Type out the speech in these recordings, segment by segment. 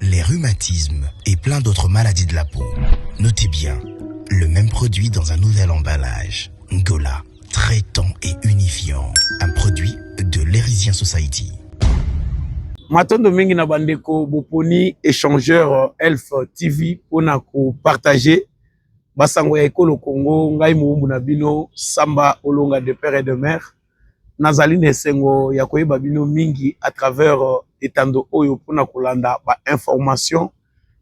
les rhumatismes et plein d'autres maladies de la peau. Notez bien, le même produit dans un nouvel emballage. Ngola, traitant et unifiant. Un produit de l'Erisien Society. matondo mingi na bandeko boponi échangeur euh, elf tv mpona kopartage basango ya ekolo congo ngai mowumbu na bino samba olonga de père et de mère Nazali na esengo ya koyeba bino mingi à travers euh, etando oyo mpona kolanda ba information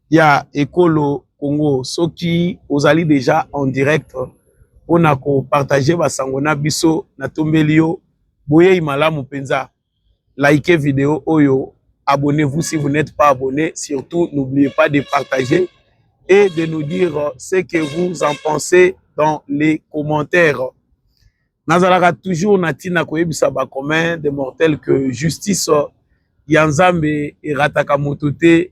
ya ekolo Congo. Soki ozali deja en direct mpona kopartage basango na biso, natombeli yo boyei malamu mpenza. Likez video oyo, abonnez-vous si vous n'êtes pas abonné, surtout n'oubliez pas de partager et de nous dire ce que vous en pensez dans les commentaires. nazalaka toujours na ntina koyebisa ba commun de mortel que justice ya nzambe erataka moto te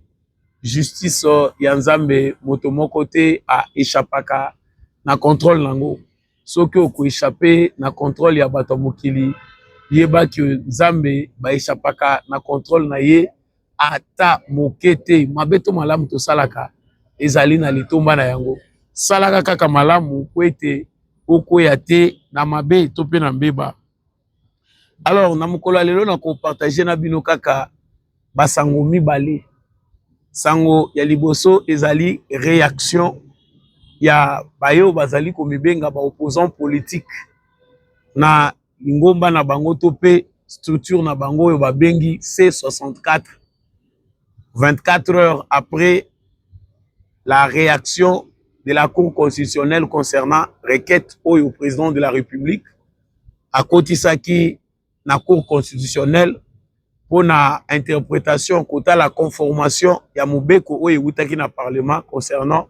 justice ya nzambe moto moko te aechapaka na controle na yango soki okoechape na controle ya bato ya mokili yeba ke nzambe baechapaka na controle na ye ata moke te mabe to malamu tosalaka ezali na litomba na yango salaka kaka malamu mpo ete okweya te na mabe to mpe na mbeba alors na mokolo ya lelo nakopartage na bino kaka basango mibale sango ya liboso ezali réaction ya baye oyo bazali komibenga baopposant politique na lingomba na bango to mpe structure na bango oyo babengi C64 24 heures après la réaction de la Cour constitutionnelle concernant requête oyo président de la République akotisaki na Cour constitutionnelle mpo na interpretation kotala conformation ya mobeko oyo ewutaki na parlement concernant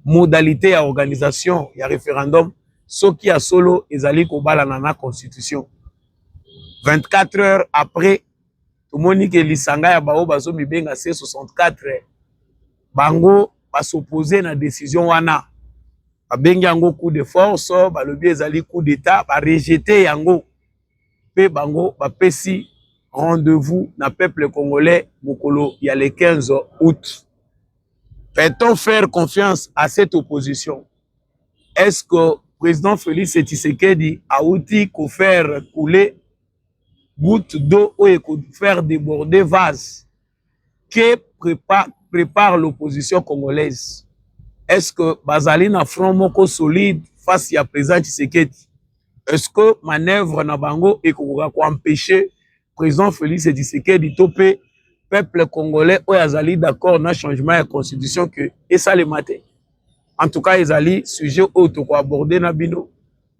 modalité ya organisation ya référendum soki ya solo ezali kobalana na constitution 24 heures après tomoni ke lisanga ya baoyo bazomibenga c 64 bango basoppose na décision wana babengi yango coup de force balobi ezali coup d'état barejete yango mpe bango bapesi rendez-vous na peuple congolais mokolo ya le 15 août peut-on faire confiance à cette opposition est-ce que président Félix Tshisekedi auti ko faire couler goutte d'eau oyo eko faire déborder vase Que prépare, prépare l'opposition congolaise? Est-ce que bazali na front moko solide face ya président Tshisekedi? Est-ce que manœuvre na bango ekokoka ko empêcher président Félix Tshisekedi to pe peuple congolais oyo azali d'accord na changement ya constitution que esalema te? En tout cas, ezali sujet oyo toko aborder na bino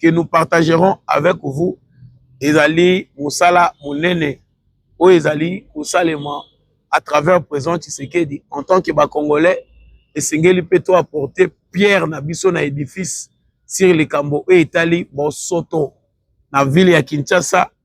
que nous partagerons avec vous ezali mosala monene oyo ezali kosalema à travers président Tshisekedi en tant que bacongolais esengeli mpe to apporter pierre na biso na édifice sur likambo oyo etali bosoto na ville ya Kinshasa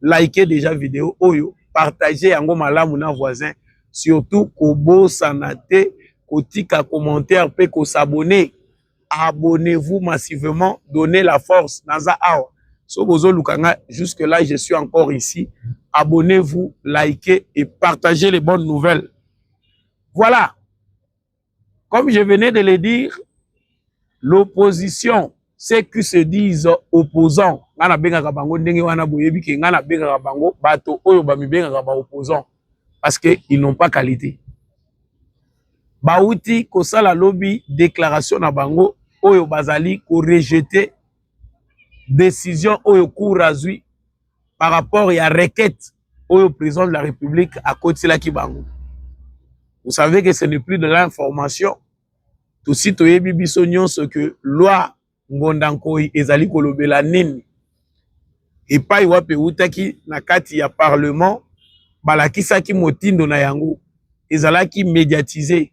Likez deja video oyo, partagez yango malamu na voisin, surtout kobosana te kotika commentaire pe ko s'abonner. Abonnez-vous massivement, donnez la force naza awa. So bozoluka nga jusque là je suis encore ici. Abonnez-vous, likez et partagez les bonnes nouvelles. Voilà. Comme je venais de le dire, l'opposition, ceux qui se disent opposants, nga na bengaka bango ndenge wana boyebi ke nga na bengaka bango bato oyo ba mi bengaka ba opposants parce que ils n'ont pas qualité. Bawuti kosala lobi déclaration na bango oyo bazali ko rejeter décision oyo cour azui par rapport ya requête oyo président de la république akotiselaki bango vous savez que ce n'est plus de l'information tosi toyebi biso nyonso que loi ngonda nkoi ezali kolobela nini epai wapi ewutaki na kati ya parlement balakisaki motindo na yango ezalaki mediatise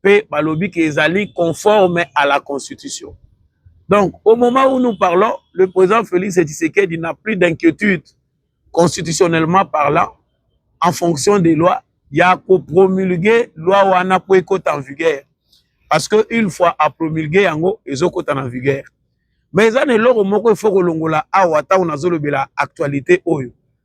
mpe balobi ke ezali conforme à la constitution donc au moment où nous parlons le président félix tshisekedi n'a plus d'inquiétude constitutionnellement parlant en fonction des lois ya kopromulgue loi wana mpo ekota en vigueur parce que une fois apromulgue yango ezokota na vigueur mais eza na eloko moko efo kolongola awa ntango nazolobela actualité oyo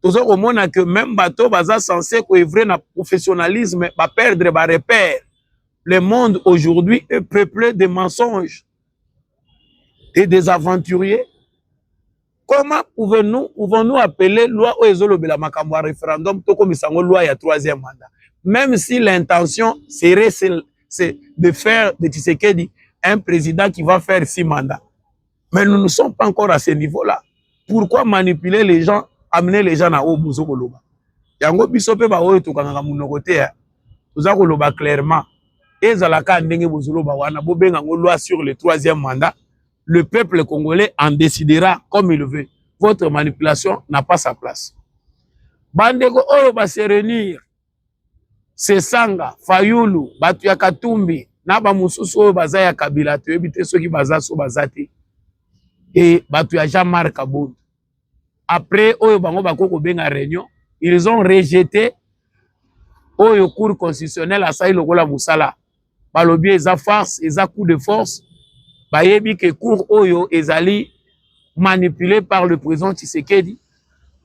toza komona que meme bato baza sense koevre na professionnalisme ba perdre ba repère le monde aujourd'hui est peuplé de mensonges et des aventuriers comment pouvons-nous pouvons-nous appeler loi oyo ezolobela makambo ya référendum tokomisa yango loi ya troisième mandat même si l'intention serait c'est de faire de Tshisekedi un président qui va faire six mandats Mais nous ne sommes pas encore à ce niveau-là. Pourquoi manipuler les gens, amener les gens na oyo bozo koloba? Yango biso pe ba oyo tokangaka munoko te, hein. toza koloba clairement. Ezala ka ndenge bozo loba wana, bobenga ngo loi sur le troisième mandat. Le peuple congolais en décidera comme il veut. Votre manipulation n'a pas sa place. Bandeko oyo ba se réunir Sesanga, Fayulu, bato ya Katumbi na bamosusu oyo baza ya Kabila toyebi te soki baza so baza te e bato ya Jean Marc Abondo après oyo bango bakoki kobenga réunion ils ont rejeté oyo cour constitutionnelle asali lokola mosala balobi eza farce eza coup de force bayebi ke cour oyo ezali manipule par le président tshisekedi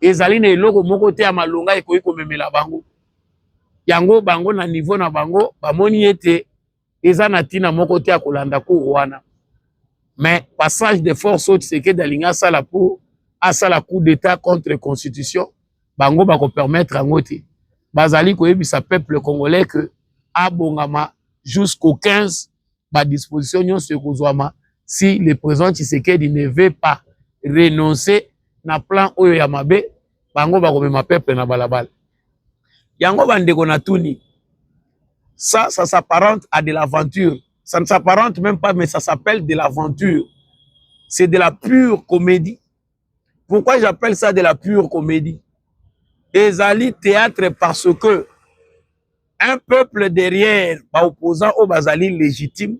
ezali na eloko moko te ya malonga ekoki komemela bango yango bango na niveau na bango bamoni ete eza na ntina moko te ya kolanda cour wana mais passage de force oyo tshisekedi alingi asala mpo asala coup d'état contre constitution bango bako permettre yango te bazali koyebisa peuple congolais que abongama jusqu'au 15 ba disposition nyonso ekozwama si le président Tshisekedi ne veut pas renoncer na plan oyo ya mabe bango bakomema peuple na balabala yango bandeko na tuni ça ça s'apparente à de l'aventure ça ne s'apparente même pas mais ça s'appelle de l'aventure c'est de la pure comédie Pourquoi j'appelle ça de la pure comédie Ezali théâtre parce que un peuple derrière ba opposants au bazali légitime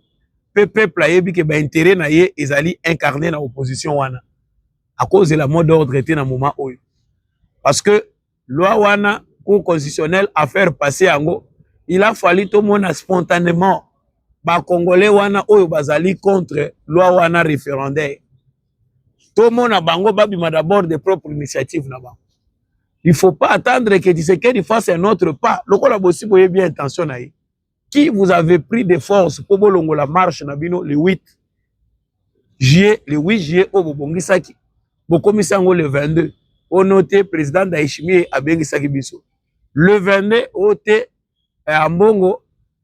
pe peuple ayebi que ba intérêt na ye ezali incarné na opposition wana à cause de la mode d'ordre était na moment oyo parce que Loi wana cour constitutionnelle a faire passer yango il a fallu tomona spontanément ba congolais wana oyo bazali contre loi wana référendaire tomona bango babima d'abord de propre initiative na bango il faut pas attendre que Tshisekedi fasse un autre pas lokola bosi boyebi intention na ye qui vous avez pris de force mpo bolongola marche na bino le 8 juillet le 8 juillet oyo bobongisaki bokomisi yango le 22 ono te président Ndayishimiye abengisaki biso le 22 oyo te eh, ambongo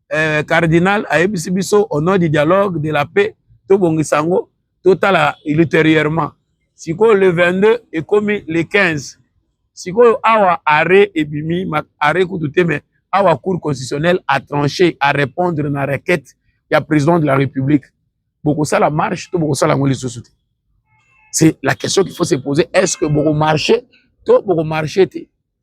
eh, cardinal ayebisi biso au nom du dialogue de la paix tobongisa yango totala ultérieurement sikoyo le 22 ekomi le 15 sikoyo awa arrêt ebimi arrêt kutu te mais awa cour constitutionnelle a tranché a répondre na requête ya président de la république bokosala marche to bokosala yango lisusu te c'est la question qu'il faut se poser est ce que bokomarche to bokomarche te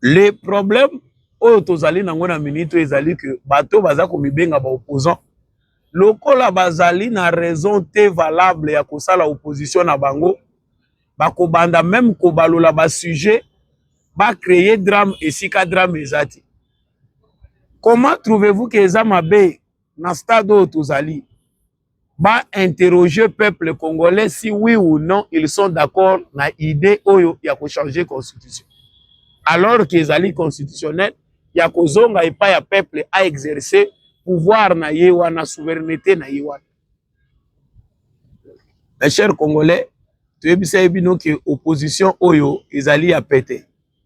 le problème oyo tozali nango na minute ezali que bato baza komibenga ba opposant lokola bazali na raison te valable ya kosala opposition na bango bakobanda meme kobalola basujet bacreye drame esika drame eza te comment trouvez-vous ke eza mabe na stade oyo tozali ba interroger peuple congolais si oui ou non ils sont d'accord na idée oyo ya ko changer constitution alors que ezali constitutionnel ya kozonga epai ya peuple a exercer pouvoir na ye wana souveraineté na ye wana mes chers congolais toyebisaki bino ke opposition oyo ezali ya pete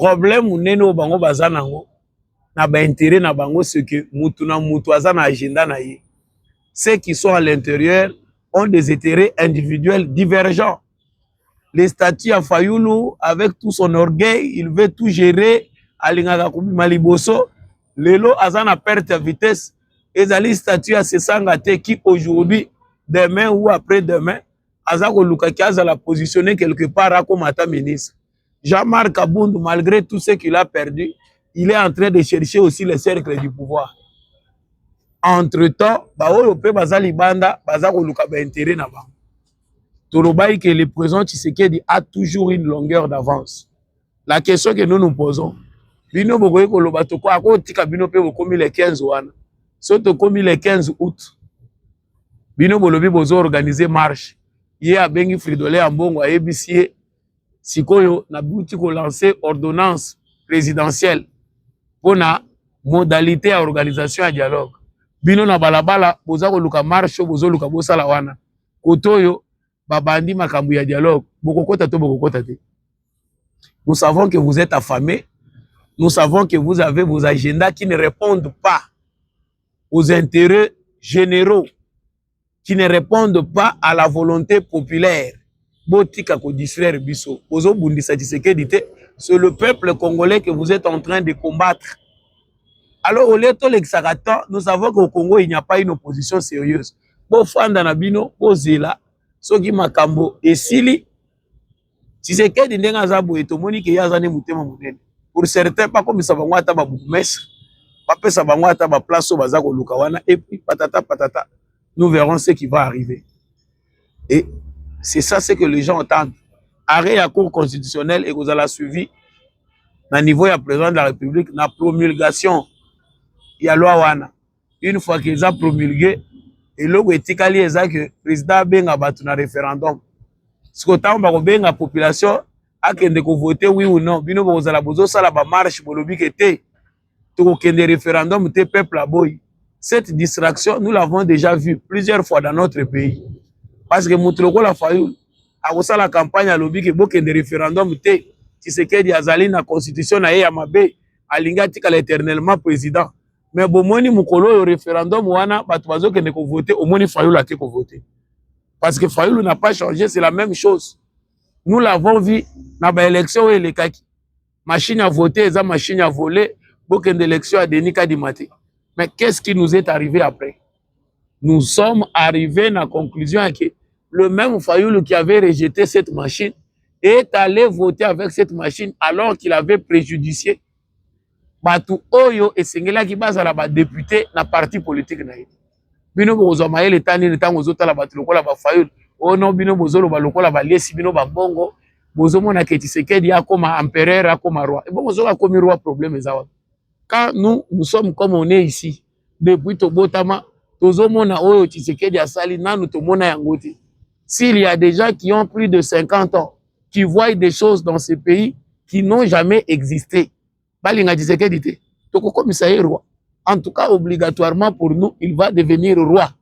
problème munene oyo bango baza nango na ba intérêt na bango ce que mutu na mutu aza na agenda na ye ceux qui sont à l'intérieur ont des intérêts individuels divergents les statuts ya Fayulu avec tout son orgueil il veut tout gérer alingaka kobima liboso lelo aza na perte ya vitesse ezali statut ya sesanga te qui aujourd'hui demain ou après demain aza kolukaki azala positionne quelque part akoma ata ministre Jean-Marc Kabund, malgré tout ce qu'il a perdu, il est en train de chercher aussi le cercle du pouvoir. Entre-temps, baoyo pe baza libanda, baza koluka ba intérêt na bango. Tolobai que le président Tshisekedi a toujours une longueur d'avance. La question que nous nous posons, bino bokoki koloba toko akotika bino pe bokomi le 15 wana. So tokomi le 15 août, bino bolobi bozo organiser marche. Ye abengi Fridolin Ambongo ayebisi ye sikoyo na buti ko lancer ordonnance présidentielle pona modalité ya organisation ya dialogue bino na balabala boza koluka marche oyo bozoluka bosala wana kote oyo babandi makambo ya dialogue bokokota to bokokota te nous savons que vous êtes affamé nous savons que vous avez vos agendas qui ne répondent pas aux intérêts généraux qui ne répondent pas à la volonté populaire. Botika ko distraire biso. Bozo bundisa Tshisekedi te. C'est le peuple congolais que vous êtes en train de combattre. Alors au lieu de l'exaka temps, nous savons qu'au Congo il n'y a pas une opposition sérieuse. Bo fanda na bino, bo zela soki makambo esili Tshisekedi ndenge aza boye tomoni ke ye aza nde motema monene pour certains bakomisa bango ata ba bourgmestre bapesa bango ata ba place oyo baza koluka wana et puis patata patata nous verrons ce qui va arriver et c'est ça ce que les gens entendent arrêt ya cour constitutionnelle ekozala suivi na niveau ya président de la république na promulgation ya loi wana une fois que eza promulgue eloko etikali eza que président abenga bato na référendum siko ntango bakobenga population akende kovote oui ou non bino bokozala bozosala bamarche bolobi ke te tokokende référendum te peuple aboyi cette distraction nous l'avons déjà vu plusieurs fois dans notre pays parce que moto lokola fayulu akosala campagne alobi ke bokende référendum te tshisekedi azali na constitution na ye ya mabe alingi atikala éternellement président me bomoni mokolo oyo referendum wana bato bazokende kovote omoni fayulu ake kovote parce que fayulu n'a pas changé c'est la même chose nous l'avons vu na baélection oyo elekaki machine ya vote eza machine ya vole bokende élection ya denis kadima te mais qu'est ce qui nous est arrivé après nous sommes arrivés na conclusion yake le même fayulu qui avait rejeté cette machine est allé voter avec cette machine alors qu'il avait préjudicié bato oyo esengelaki bazala badepute na parti politike na ye bino bokozwa mayele eta nini ntango ozotala bato lokola bafayulu ono oh bino bozoloba lokola balesi bino bambongo bozomona ke tisekedi akoma empereur akoma roi ebongo soki akomi roi problème eza wapi quand nous nous sommes comme on est ici depuis tobotama tozomona oyo Tshisekedi asali nanu tomona yango te s'il y a des gens qui ont plus de 50 ans qui voient des choses dans ce pays qui n'ont jamais existé balinga Tshisekedi te tokokomisa ye roi en tout cas obligatoirement pour nous il va devenir roi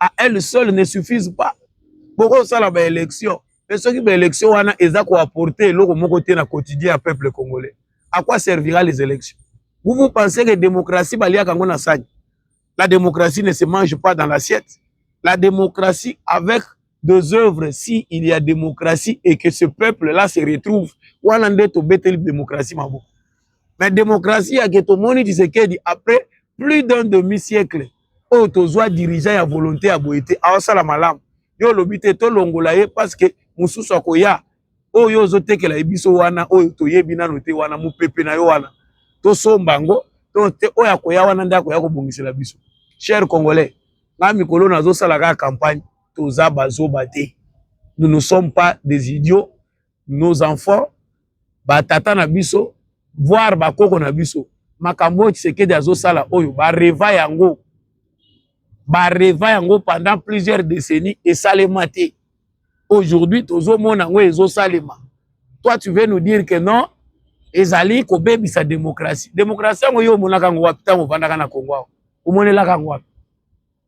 à elle seule ne suffisent pas bokosala baélection mpe soki baélection wana eza koapporte eloko moko te na quotidien ya peuple congolais à quoi servira les élections vous vous pensez que démocratie baliaka yango na sani la démocratie ne se mange pas dans l'assiette la démocratie avec deux œuvres si il y a démocratie et que ce peuple là se retrouve wana nde tobeteli démocratie maboko mais démocratie yake tomoni tshisekedi après plus d'un demi siècle oyo tozwa dirigeant ya volonté ya boye te awasala malamu yo olobi te tolongola ye parce que mosusu akoya oyo ozotekela ye biso wana oyo toyebi nano te wana mopepe na yo wana tosomba yango to te oyo akoya wana nde akoya kobongisela biso cher congolais nga mikolo nazosala kaka campagne toza bazoba te nous ne sommes pas des idiots nos enfants batata na biso voir bakoko na biso makambo oyo tshisekedi azosala oyo bareva yango bareva yango pendant plusieurs décennies esalema te aujourd'hui tozomona yango ezosalema toi tu veux nous dire que non ezali kobebisa démocratie démocratie yango yo omonaka yango wapi ntango ovandaka na congo awa omonelaka yango wapi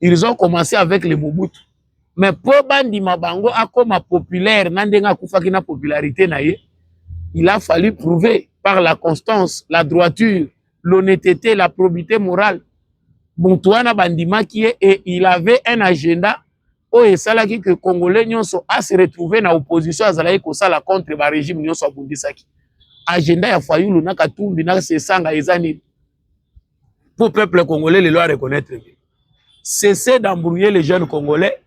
ils ont commencé avec le Mobutu mais mpo bandima bango akoma populaire na ndenge akufaki na popularité na ye il a fallu prouver par la constance la droiture l'honnêteté la probité morale motu wana bandimaki ye et il avait un agenda oyo esalaki que congolais nyonso a se retrouver na opposition azalaki kosala contre ba regime nyonso abundisaki agenda ya fayulu na katumbi na sesanga eza nini Pour peuple congolais, les lois reconnaître. Cessez d'embrouiller les jeunes congolais.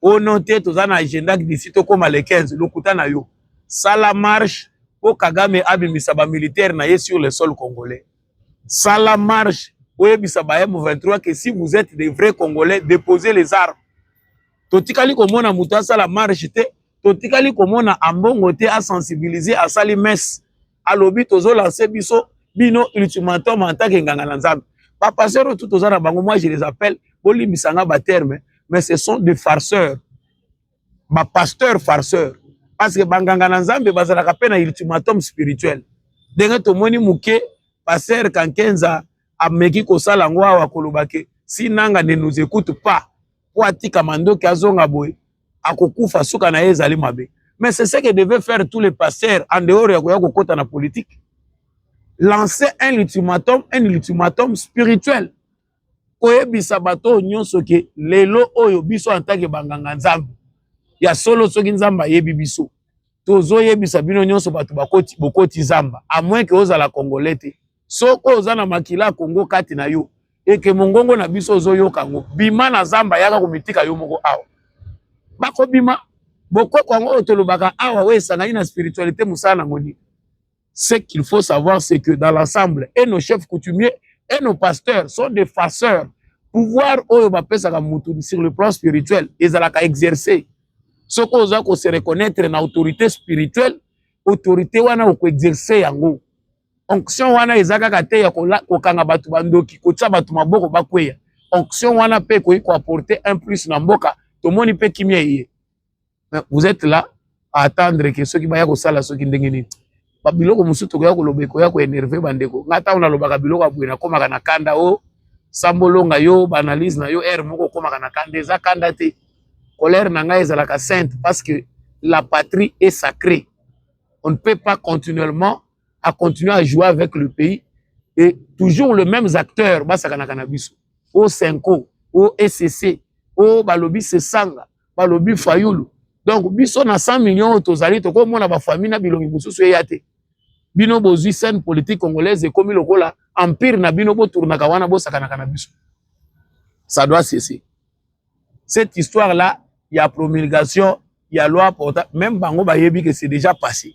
Au nom de tous un agenda d'ici au comme les 15, lokuta na yo. Ça la marche pour Kagame abimisa ba militaire na ye sur le sol congolais. Ça la marche pour ebisa ba M23 que si vous êtes des vrais congolais, déposez les armes. Totikali komona muta ça la marche te, totikali komona ambongo te a sensibiliser asali messe. alobi tozo lancer biso bino ultimatum en tant que nganga na Nzambe ba pasteurs tout toza na bango moi je les appelle bolimbisa nga ba termes mais ce sont des farceurs ba pasteurs farceurs parce que banganga na Nzambe bazalaka pe na ultimatum spirituel ndenge tomoni muke pasteur Kankenza ameki kosala yango awa koloba ke si nanga ne nous écoute pas po atika mandoki azonga boye akokufa suka na ye ezali mabe mais c'est ce que devait faire tous les pasteurs en dehors ya koya kokota na politique lancer un ultimatum un ultimatum spirituel koyebisa bato oyo nyonso ke lelo oyo biso antake banganga nzambe ya solo soki nzambe ayebi biso tozoyebisa bino nyonso bato bokoti zamba amoin ke ozala congolais te soko oza na makila ya kongo kati na yo eke mongongo na biso ozoyoka yango bima na zamba yaka komitika yo moko awa bakobima bokoko yango oyo tolobaka awa oyo esangani na spiritualité mosala na ngoni ce qu'il faut savoir c'est que dans l'ensemble et nos chefs coutumiers et nos pasteurs sont des fasseurs pouvoir oyo bapesaka motu sur le plan spirituel ezalaka exercer soki oza ko se reconnaître na autorité spirituelle autorité wana okoexerce yango onction wana eza kaka te ya kokanga bato bandoki kotia bato maboko bakweya onction wana mpe ekoki koapporte un plus na mboka tomoni mpe kimia eye vous êtes là à attendre ke soki baya kosala soki ndenge nini babiloko mosusu tokoya koloba ekoya koenerve bandeko ngai ntango nalobaka biloko ya boye nakomaka na kanda o oh, sambolonga yo baanalyse na yo ere moko okomaka na kanda eza kanda te colère na ngai ezalaka sainte parce que la patrie est sacrée On ne peut pas continuellement à continuer à jouer avec le pays et toujours les mêmes acteurs basakanaka na biso o senko o ecc o balobi sesanga balobi fayulu donc biso na 100 millions tozali tokomona bafamille na bilongi mosusu eya te bino bozwi scène politique congolaise ekomi lokola empire na bino botournaka wana bosakanaka na biso ça doit cesser cette histoire là ya promulgation ya loi porta même bango bayebi que c'est déjà passé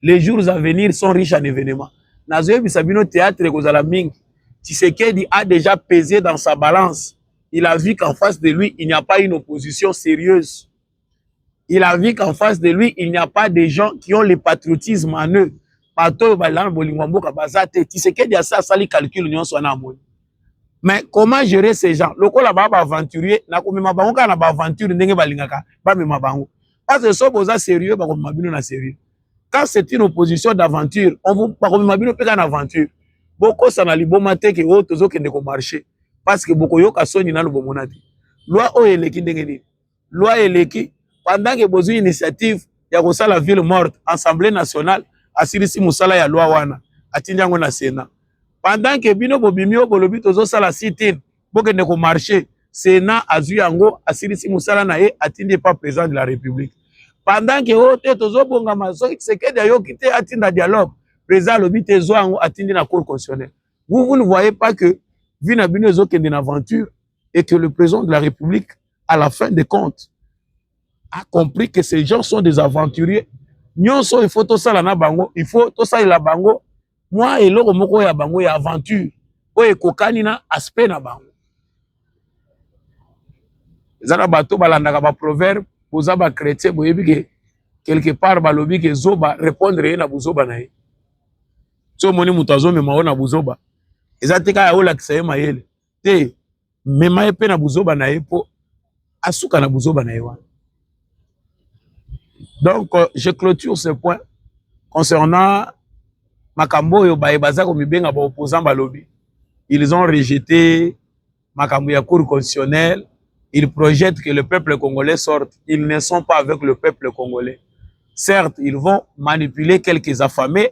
les jours à venir sont riches en événements nazoyebisa bino théâtre ekozala mingi Tshisekedi a déjà pesé dans sa balance il a vu qu'en face de lui il n'y a pas une opposition sérieuse il a vu qu'en face de lui il n'y a pas des gens qui ont le patriotisme en eux bato oyo balingaka na bolingo ya mboka baza te tisekedi asi asali calcul nyonso wana amoni mais comment gérer ces gens lokola baa baaventurier na komema bango kaka na baaventure ndenge balingaka bamema bango parce que so boza sérieux bakomema bino na sérieux quand c'est une opposition d'aventure bakomema bino mpe kaka na aventure bokosana liboma te ke oyo oh, tozokende komarche parce que bokoyoka soni nano bomona te loi oyo eleki ndenge nini loi eleki pendant que bozui initiative ya kosala ville morte assemblée nationale asilisi mosala ya loi wana atindi yango na senat pendant que bino bobimi oyo bolobi tozosala sit-in bokende komarche senat azwi yango asilisi mosala na ye atindi epa président de la république pendant que oyo oh, te tozobongama soki tshisekedi ayoki te atinda dialogue président alobi te zwa yango atindi na cour constitutionnelle vous vous ne voyez pas que vie na bino ezokende na aventure et que le président de la république à la fin des comptes a compris que ces gens sont des aventuriers nyonso il faut tosala na bango il faut tosalela bango mwa eloko moko ya bango ya aventure oyo ekokani na aspect na bango eza na bato balandaka baproverbe boza bachrétien boyebi ke quelque part balobi ke zoba répondre ye na buzoba na ye so omoni moto azomema yo na buzoba eza te kaka olakisa ye mayele te mema ye mpe na buzoba na ye mpo asuka na buzoba na ye wana donc euh, je clôture ce point concernant makambo oyo baye baza komibenga baopposant balobi ils ont rejeté makambo ya cour constitutionnelle ils projettent que le peuple congolais sorte ils ne sont pas avec le peuple congolais certes ils vont manipuler quelques affamés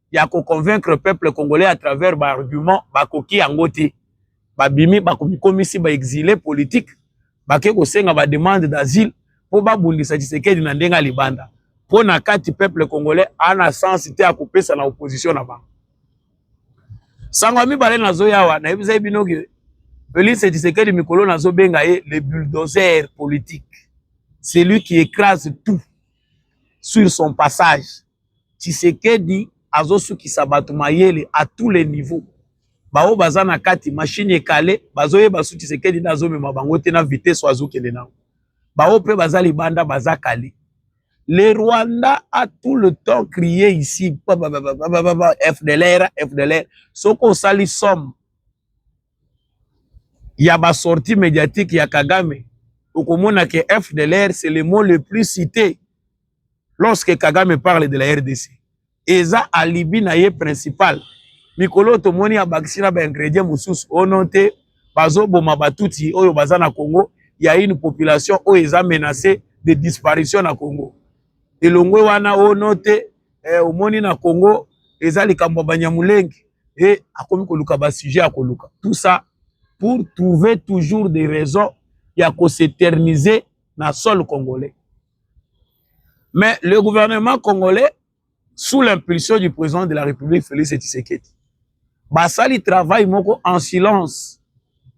ya ko convaincre peuple congolais à travers ba arguments bakoki yango te babimi bakomikomisi ba exilé politique bake kosenga ba demande d'asile mpo babundisa Tshisekedi na ndenge ya libanda mpo na kati peuple congolais ana sens te ya kopesa na opposition na bango sango ya mibale nazoya awa nayebisaki bino ke Felix Tshisekedi mikolo nazobenga ye le bulldozer politique celui qui écrase tout sur son passage Tshisekedi azosukisa bato mayele à tous les niveaux. Baoyo baza na kati machine ekale bazoyeba su Tshisekedi nde azomema bango te na vitesse oyo azokende nango. Baoyo mpe baza libanda baza kale. Le Rwanda a tout le temps crié ici FDLR, FDLR. Soko osali somme ya ba sortie mediatique ya Kagame okomona ke FDLR c'est le mot le plus cité lorsque kagame parle de la rdc eza alibi na ye principal mikolo oyo tomoni abakisi na baingredient mosusu ono te bazoboma batuti oyo baza na congo ya une population oyo eza menace de disparition na congo elongwe wana ono te eh, omoni na congo eza likambo ya banyamulenge e akomi koluka basujet ya koluka tout ça pour trouver toujours des raisons ya koseterniser na sol congolais Mais le gouvernement congolais, sous l'impulsion du président de la République, Félix Tshisekedi, basali travail moko en silence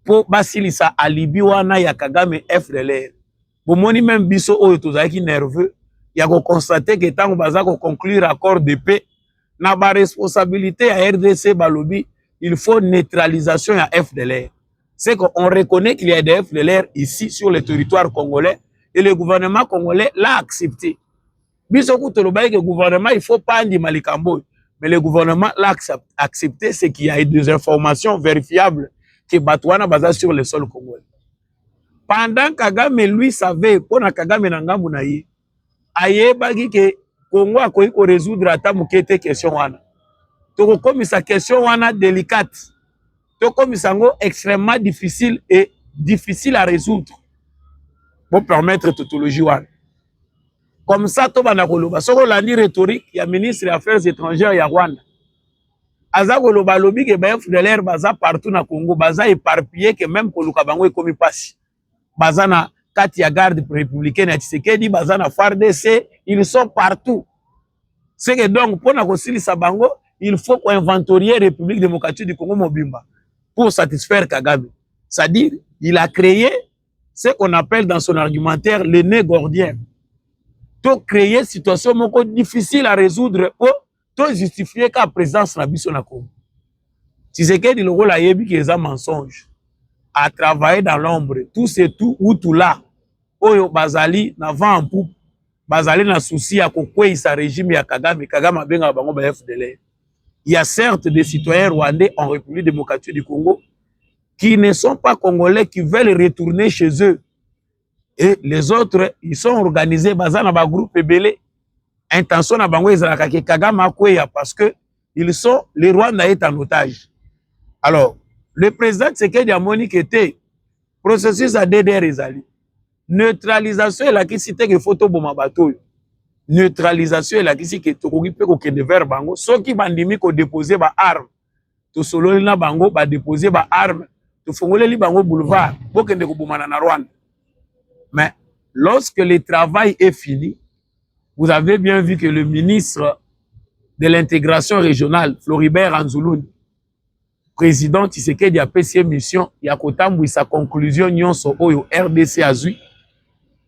mpo basilisa alibi wana ya Kagame FDLR. bomoni meme biso oyo tozalaki nerveux ya kokonstate ke ntango baza koconclure accord de paix na baresponsabilité ya rdc balobi il faut neutralisation ya fdlr c'est qu'on reconnaît qu'il y a des FDLR ici sur le territoire congolais et le gouvernement congolais l'a accepté. Biso kutu tolobaki que gouvernement il faut pas andima likambo oyo mais le gouvernement l'a accepté c'est qu'il y a des informations vérifiables que bato wana baza sur le sol congolais. Pendant Kagame lui savait mpo na Kagame na ngambo na ye ayebaki ke Congo akoki ko resoudre ata moke te question wana. Tokokomisa question wana delicate, tokomisa yango extrêmement difficile et difficile à résoudre. Bo permettre tautologie wana. Comme ça tobanda koloba soki olandi rhétorique ya ministre ya affaires étrangères ya Rwanda aza koloba alobi ke ba FDLR baza partout na Congo, baza éparpillé que même koluka bango ekomi pasi. baza na kati ya garde républicaine ya Tshisekedi baza na FARDC ils sont partout c'est que donc mpo na kosilisa bango il faut ko inventorier République démocratique du Congo mobimba pour satisfaire Kagame c'est-à-dire il a créé ce qu'on appelle dans son argumentaire le nœud gordien to créer situation moko difficile à résoudre mpo to justifier ka presence na biso na Congo Tshisekedi lokola ayebi ke eza mensonge a travailler dans l'ombre tout ce tout ou tout là oyo bazali na vent en poupe bazali na souci ya kokweisa regime ya Kagame Kagame abengaka bango ba FDLR il y a certes des citoyens rwandais en République démocratique du Congo qui ne sont pas congolais qui veulent retourner chez eux et les autres ils sont organisés baza na ba groupe ebele intention na bango ezalaka ke Kagame akweya parce que ils sont le Rwanda est en otage alors le président Tshisekedi amoni ke te processus ya DDR ezali neutralisation elakisi te ke faut toboma bato oyo neutralisation elakisi ke tokoki mpe kokende vers bango soki bandimi kodepose baarme tosololi na bango ba déposer ba armes tofongoleli bango boulevard bokende kobomana na Rwanda mais lorsque le travail est fini vous avez bien vu que le ministre de l'intégration régionale Floribert Anzuluni président Tshisekedi apesi ye mission ya kotambwisa conclusion nyonso oyo RDC azwi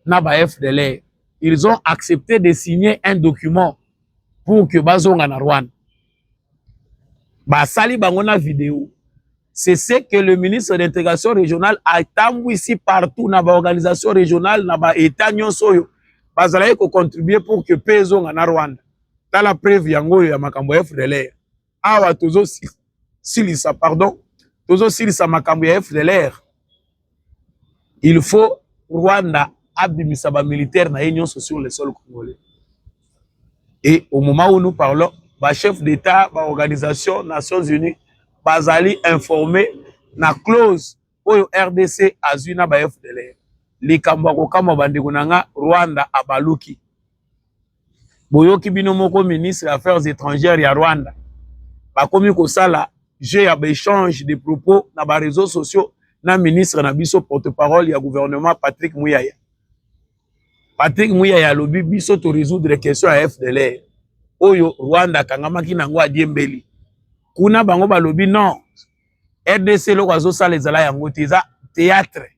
na ba FDLR ils ont accepté de signer un document pour que bazonga na Rwanda basali bango na video c'est ce que le ministre d'intégration régionale atambwisi partout na baorganisation régionale na baétat nyonso oyo bazalaki kocontribue pour que mpe ezonga na rwanda tala preuve yango oyo ya makambo ya fdlr awa tozosilisa pardon tozosilisa makambo ya fdlr il faut Rwanda abimisa ba militaire na ye nyonso sur le sol congolais et au moment où nous parlons ba chef d'état ba organisation Nations Unies bazali informé na clause oyo RDC azwi na ba FDLR likambo ya kokamwa bandeko na nga Rwanda abaluki boyoki bino moko ministre ya affaires étrangères ya rwanda bakomi kosala jeu ya baechange de propos na bareseau sociaux na ministre na biso porte-parole ya gouvernement patrick muyaya patrick muyaya alobi biso toresoudre question ya fdlr oyo rwanda akangamaki na yango adiembeli kuna bango balobi non rdc eloko azosala ezala yango te eza théâtre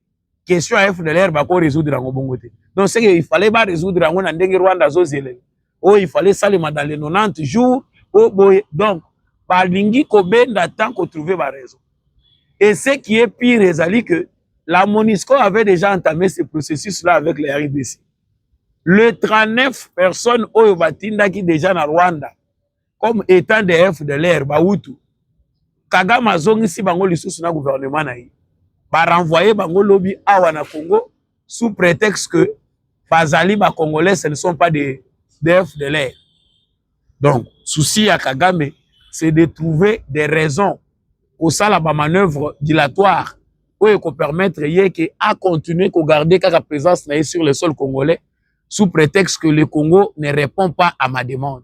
question ya FDLR bako résoudre yango bongo te donc ce il fallait ba résoudre yango na ndenge Rwanda azozelela oyo oh, il fallait salema dans les 90 jours o oh, boye donc balingi kobenda temps kotrouve baraison et ce qui est pire ezali que la monisco avait déjà entamé ce processus là avec les rdc le 39 personnes oyo batindaki déjà na rwanda comme etant de fdlr bautu kagame azongisi bango lisusu na gouvernement na ye barenvoye bango lobi awa na congo sous prétexte que bazali bacongolais ce ne sont pas des de fdlr donc souci ya kagame c'est de trouver des raisons kosala bamanœuvre dilatoire oyo ekopermettre ye ke acontinue kogarde kaka présence na ye sur le sol congolais sous prétexte que le congo ne répond pas à ma demande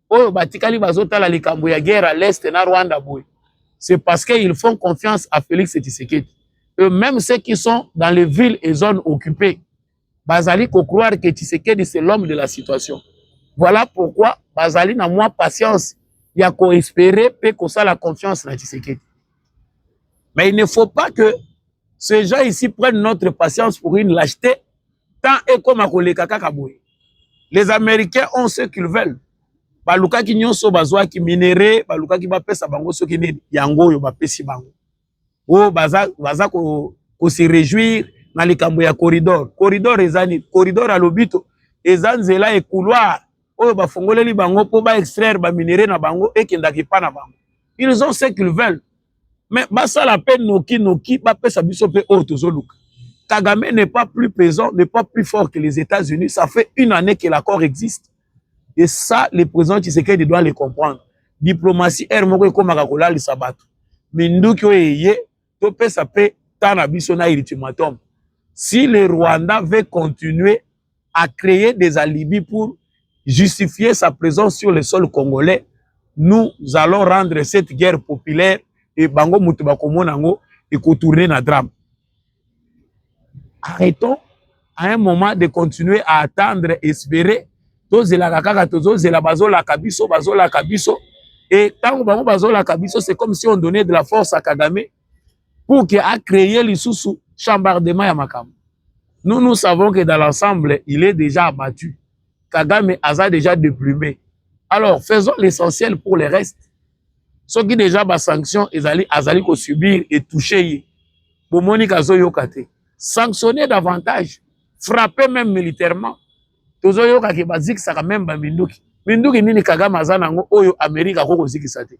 oyo batikali bazotala likambo ya guerre à l'est na Rwanda boye c'est parce qu'ils font confiance à Félix Tshisekedi et même ceux qui sont dans les villes et zones occupées bazali ko croire que Tshisekedi c'est l'homme de la situation voilà pourquoi bazali na mwa patience ya ko espérer pe kosala confiance na Tshisekedi mais il ne faut pas que ces gens ici prennent notre patience pour une lâcheté temps ekoma koleka kaka boye les américains ont ce qu'ils veulent balukaki nyonso bazwaki minere balukaki bapesa bango soki nini yango oyo bapesi bango oyo baza, baza ko, ko se réjouir na likambo ya corridor corridor eza nini corridor ya lobito eza nzela ekouloir oyo bafongoleli bango mpo ba extraire baminere na bango ekendaka epa na bango ils ont ce qu'ils veulent mais basala pe noki noki bapesa biso pe oyo tozoluka Kagame n'est pas plus pesant, n'est pas plus fort que les États-Unis. Ça fait une année que l'accord existe. Et ça, le président Tshisekedi doit le comprendre. Diplomatie, air moko ekoma kakola le sabat. Minduki oyeye, to pesa pe tana biso na ultimatum. Si le Rwanda veut continuer a cree des alibis pour justifier sa présence sur le sol congolais nous allons rendre cette guerre populaire et bango moto bakomona yango ekotourne na drame arrêtons à un moment de continuer à attendre espérer tozelaka kaka tozozela bazolaka biso bazolaka biso et ntango bango bazolaka biso c'est comme si on donnait de la force à kagame pour que a créer lisusu chambardement ya makambo nous nous savons que dans l'ensemble il est déjà abattu kagame aza déjà déplumé alors faisons l'essentiel pour le reste soki déjà basanction ezali azali kosubir etouche ye bomoni kazoyoka te sanctionner davantage frapper même militairement tozoyoka ke bazikisaka meme baminduki minduki nini kagame aza na yango oyo amerika akoki kozikisa te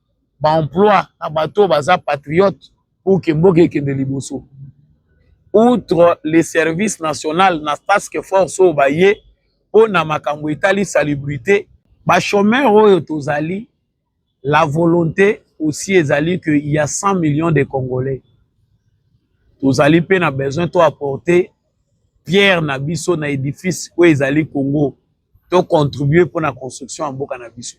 ba emploi na bato baza patriote pour que mboka ekende liboso outre le service national na task force oyo baye mpo na makambo etali salubrité bachomeur oyo tozali la volonté aussi ezali que il y a 100 millions de congolais tozali mpe na besoin to apporter pierre na biso na edifice oyo ezali congo to contribuer pour la construction en mboka na biso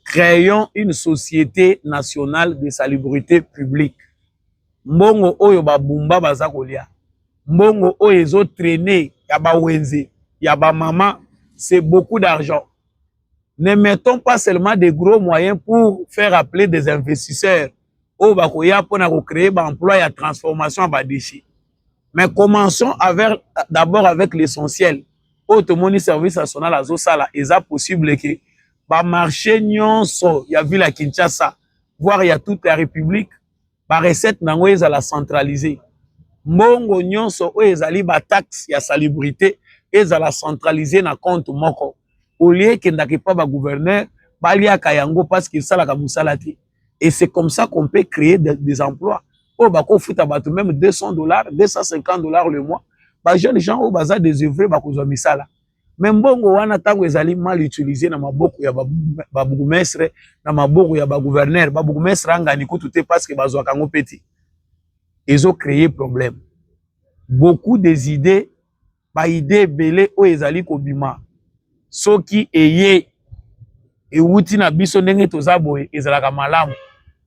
créons une société nationale de salubrité publique mbongo oyo babumba baza kolia mbongo oyo ezo traîner ya bawenze ya bamama c'est beaucoup d'argent ne mettons pas seulement des gros moyens pour faire appeler des investisseurs oyo bakoya mpona kocreye baemploi ya transformation ya badéchets mais commençons avec d'abord avec l'essentiel oyo tomoni service national azosala eza possible ke bamarché nyonso ya ville ya kinshasa voire ya toute la république barecette na yango ezala centralise mbongo nyonso oyo ezali bataxe ya salubrité ezala centralise na compte moko olie ekendaka epa bagouverneur baliaka yango parce que esalaka mosala te et c'est comme ça qu'on peut créer des, des emplois oyo bakofuta bato même 200 dollars 250 dollars le mois ba jeunes gens oyo baza désœuvré bakozwa misala me mbongo wana ntango ezali mal utilise na maboko ya babourgmestre na maboko ya bagouverneur babourgmestre angani kutu te parce que bazwaka yango mpe te ezo créer problème beaucoup des idées ba idee ebele oyo ezali kobima soki eye ewuti na biso ndenge toza boye ezalaka malamu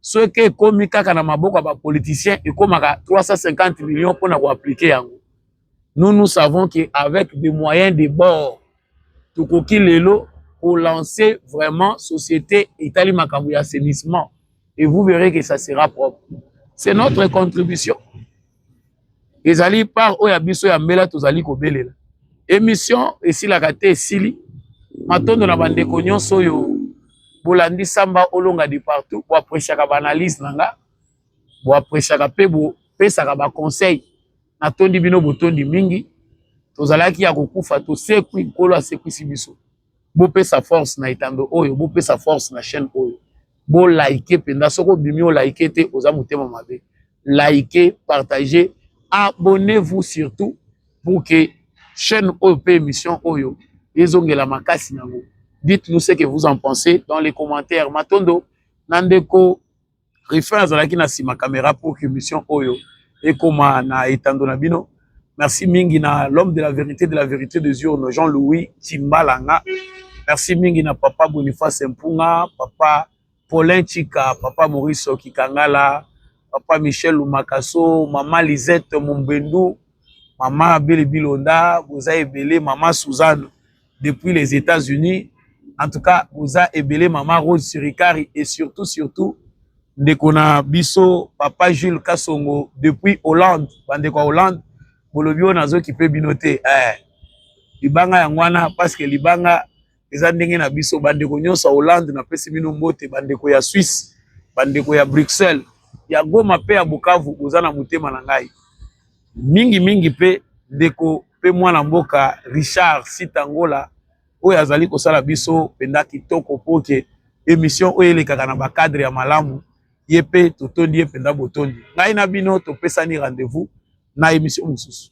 soki ekomi kaka na maboko ya bapoliticien ekomaka 350 million mpo na koaplike yango nous nous savons que avec des moyens de bord tokoki lelo kolancer vraiment société etali makambo ya assainissement et vous verrez que ça sera propre c'est notre contribution ezali part oyo ya biso ya mbela tozali kobelela emission esilaka te esili matondo na bandeko nyonso oyo bolandi samba olonga de partout boapreciaka baanalyse na nga boapreciaka mpe bopesaka baconseil natondi bino botondi mingi tozalaki ya kokufa tosekwi nkolo asekwisi biso bopesa force na etando oyo bopesa force na chaîne oyo bolaike mpenza soki obimi olaike te oza motema mabe like partage abonnez vous surtout pour que chaîne oyo mpe émission oyo ezongela makasi na yango dites nous ce que vous en pensez dans les commentaires matondo na ndeko Ruffin azalaki na sima camera pour que mission oyo ekoma na etando na bino. Merci mingi na l'homme de la vérité de la vérité des urnes Jean-Louis Timbalanga. Merci mingi na papa Boniface Mpunga, papa Paulin Chika, papa Maurice Kikangala, papa Michel Lumakaso, mama Lisette Mombendu, mama Bele Bilonda, boza ebele, mama Suzanne depuis les Etats-Unis. En tout cas, oza ebele maman Rose Sirikari et surtout surtout ndeko na biso papa Jules Kasongo depuis Hollande, bande kwa Hollande. Bolobi ona zo kipe bino te. Eh. Libanga ya ngwana parce que libanga eza ndenge na biso bande ko nyosa Hollande na pesi bino mbote bande ko ya Suisse, bande ko ya Bruxelles, ya Goma pe ya Bukavu oza na motema na ngai. mingi mingi mpe ndeko mpe mwana mboka Richard Sitangola oyo azali kosala biso mpenza kitoko mpo ke emission oyo elekaka na bacadre ya malamu ye mpe totondi ye mpenza botondi ngai na bino topesani rendez-vous na emission mosusu